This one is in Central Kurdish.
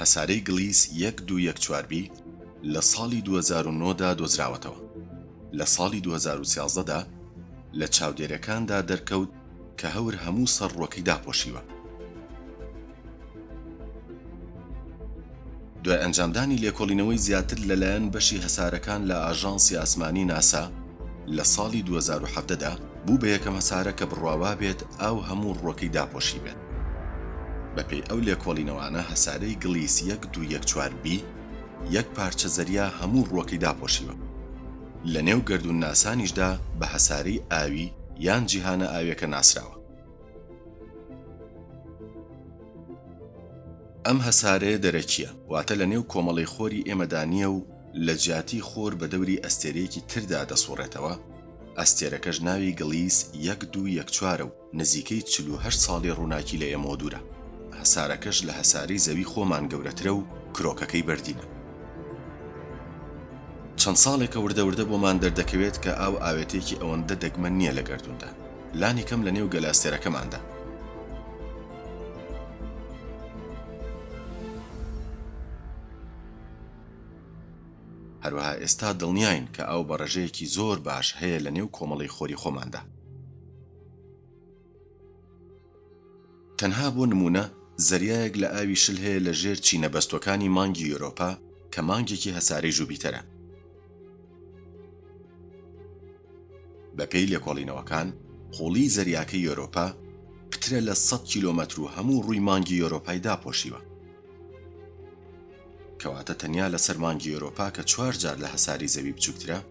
هەسارەی گڵیس یەک دوو یەک چوار بی لە ساڵی دوو هەزار و نۆ دا دۆزراوەتەوە. لە ساڵی دوو هەزار و سیازدە دا لە چاودێرێکاندا دەرکەوت کە هەور هەموو سەڕڕۆکەی داپۆشیوە. دوای ئەنجامدانی لێکۆڵینەوەی زیاتر لەلایەن بەشی هەسارەکان لە ئاژانسی ئاسمانی ناسا لە ساڵی دوو هەزار و حەڤدە دا، بوو بە یەکەم هەسارە کە بڕوا وابێت ئاو هەموو ڕووەکەی داپۆشیبێت. بەپێی ئەو لێکۆڵینەوانە هەسارەی گڵیس یەک دوو یەک چوار بی یەک پارچە زەریا هەموو ڕووەکەی داپۆشیوە. لەنێو گەردوونناسانیشدا بە هەسارەی ئاوی یان جیهانە ئاویەکە ناسراوە. ئەم هەسارەیە دەرەکییە، واتە لە نێو کۆمەڵەی خۆری ئێمەدا نییە و لە جیاتی خۆر بە دەوری ئەستێرەیەکی تردا دەسوڕێتەوە، ئەستێرەکەش ناوی گڵیس یەک دوو یەک چوارە و نزیکەی چل و هەشت ساڵی ڕووناکی لە ئێمەوە دوورە، هەسارەکەش لە هەسارەی زەوی خۆمان گەورەترە و کرۆکەکەی بەردینە. چەند ساڵێکە وردە وردە بۆمان دەردەکەوێت کە ئاو ئاوێتەیەکی ئەوەندە دەگمەن نییە لە گەردووندا، لانی کەم لە نێو گەلە ئەستێرەکەماندا. هەروەها ئێستا دڵنیاین کە ئاو بە ڕێژەیەکی زۆر باش هەیە لە نێو کۆمەڵەی خۆری خۆماندا. تەنها بۆ نموونە زەریایەک لە ئاوی شل هەیە لە ژێر چینە بەستووەکانی مانگی یۆرۆپا کە مانگێکی هەسارەی ژوبیتەرە. بە پێی لێکۆڵینەوەکان قووڵیی زەریاکەی یۆرۆپا پترە لە سەد کیلۆمەتر و هەموو ڕووی مانگی یۆرۆپای داپۆشیوە. کەواتە تەنیا لەسەر مانگی یۆرۆپا کە چوار جار لە هەساری زەوی بچووکترە،